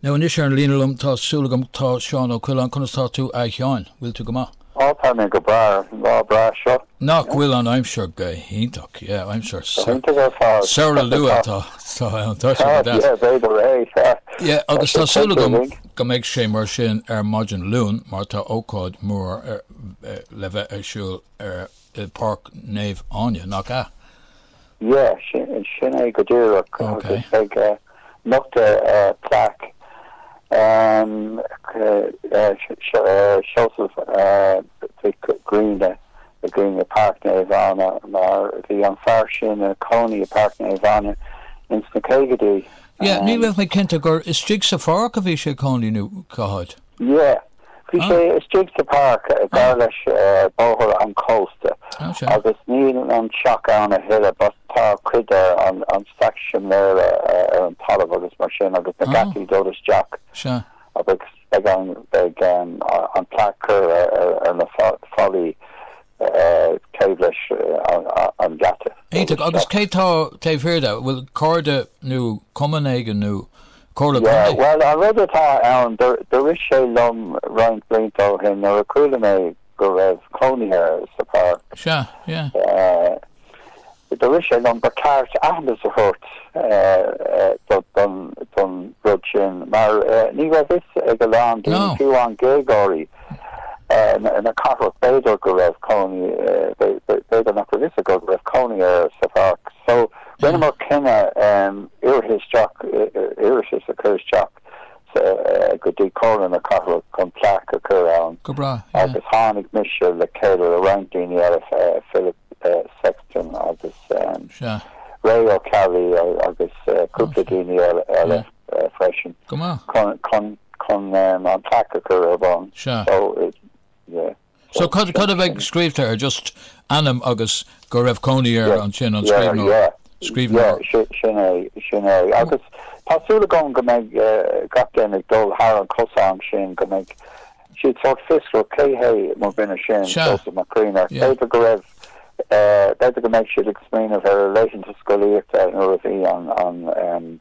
Now anois ar an líne liom tá súil agam tá Seán Ó Coileáin, conas tá tú A Sheáin? Bhfuil tú go maith? Á tá mé go breá an lá breá seo. Nach bhfuil an aimsir go hiontach? Yeah, aimsir Go hiontach ar fad. Samhradh luath atá ann, tá sé go deas. Yeah, b'fhéidir é, tá. Yeah, agus tá súil agam go mbeidh sé mar sin ar maidin Luain mar tá ócáid mhór le bheith ar siúl i bPáirc Naomh Áine, nach ea? Yeah, sin, sin é go díreach agus beidh eh, nochtadh eh, plaic em, eh, eh, Se- Se- eh, Seosamh eh, Mhic Grianna i gcoinne Páirc Naomh Áine mar bhí an fear sin ag cónaí i Páirc Naomh Áine ins na caogaidí. Yeah, ní raibh mé cinnte gur istigh sa pháirc a bhí sé ag cónaí nó cá háit. Yeah. Bhí sé istigh sa páirc gar leis bóthar an chósta agus níl an teach ann a thuilleadh but tá cuid de an staic simléir ar an talamh agus mar sin agus na geataí dul isteach agus beidh an beidh an plaic curtha ar na fallaí taobh leis an geata. Iontach agus cé tá taobh thiar de? Bhfuil cairde nó cumann éigin nó Comhairle Contae. Bhuel, an rud atá ann, do rith sé liom roinnt blianta ó shin nuair a chuala mé go raibh cónaí air sa Pháirc, Sea, yeah. do rith sé liom ba cheart aitheantas a thabhairt don rud sin mar ní raibh fhios ag a lán daoine, fiú amháin Gaeilgeoirí na cathrach, b'fhéidir go raibh cónaí, b'fhéidir nach raibh fhios acu go raibh cónaí air sa Pháirc. So, Dheineamar cinneadh iarratas a chur isteach go dtí Comhairle na Cathrach chun plaic a chur ann agus tháinig mise le chéile le roinnt daoine eile, Philip Sexton agus Ray Ó Ceallaigh agus cúpla daoine eile freisin, chun an plaic a chur ar bun. So cad, cad a bheidh scríobhta ar, just ainm agus go raibh cónaí air Yes, ansin, an yeah, scríbhneoir, yeah. Yeah, scríbhneoir? si- sin é, sin é. Agus tá súil agam go mbeidh eh, gach duine ag dul thar an cosán sin, go mbeidh siad sórt fiosrach cé hé mo duine sin, Sea. Seosamh Mac Grianna. Yeah. B'fhéidir go raibh, eh, b'fhéidir go mbeidh siad ag smaoineamh ar a laethanta scolaíochta nuair a bhí an, an, em,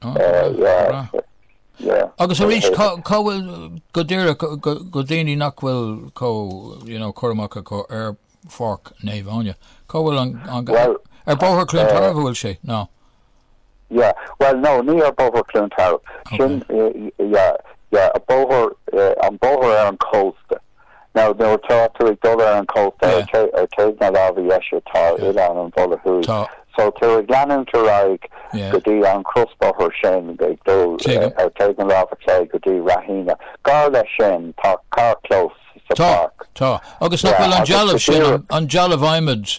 Go raibh, go raibh. Agus arís, cá bhfuil, go díreach, do dhaoine nach bhfuil cur amach acu ar Pháirc Naomh Áine, cá bhfuil an, ar Bhóthar Chluain Tarbh an bhfuil sé, nó? Yeah, bhuel nó, ní ar Bhóthar Chluain Tarbh. Sin, yeah, yeah, an bóthar ar an chósta. Now, nuair atá tú ag dul ar an chósta, ar thaobh na láimhe dheise tá Oileán an Bhulla Thuaidh. So tá tú ag leanúint ar aghaidh go dtí an crosbhóthar sin, ag dul ar thaobh na láimhe clé go dtí Ráth Éanaigh. Gar leis sin tá carrchlós sa pháirc. Tá, tá. Agus nach bhfuil an dealbh sin, an dealbh adhmaid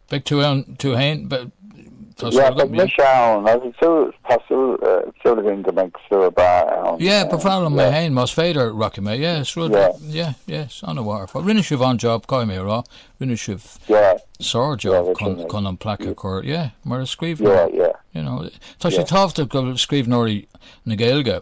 Beidh tú ann tú féin? Tá súil agam, yeah. Yeah, beidh mise ann. Tá súil, tá súil, súil againn go mbeidh slua breá ann. Yeah, ba bhreá liom mé féin, más féidir, rachaidh mé, yeah, is rud, yeah, yeah, an-mharfach. Rinne sibh an-job, caithfidh mé a rá, rinne sibh sár-job chun an plaic a chur, yeah, mar a scríobh, yeah, yeah, you know, tá sé tábhachtach go scríbhneoirí na Gaeilge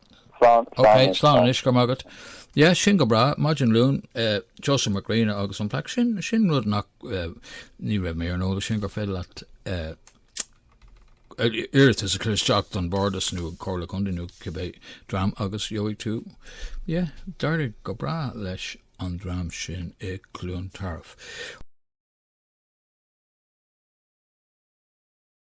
Slán, slán anois. Ok, slán anois, go raibh maith agat. Yeah, sin go breá, maidin Luain, Seosamh Mac Grianna agus an plaic, sin, sin rud nach, ní raibh mé ar an eolas sin gur féidir leat iarratas a chur isteach don Bhardas nó Comhairle Contae nó cibé dream agus gheobhaidh tú, yeah, d'éirigh go breá leis an dream sin i gCluain Tarbh.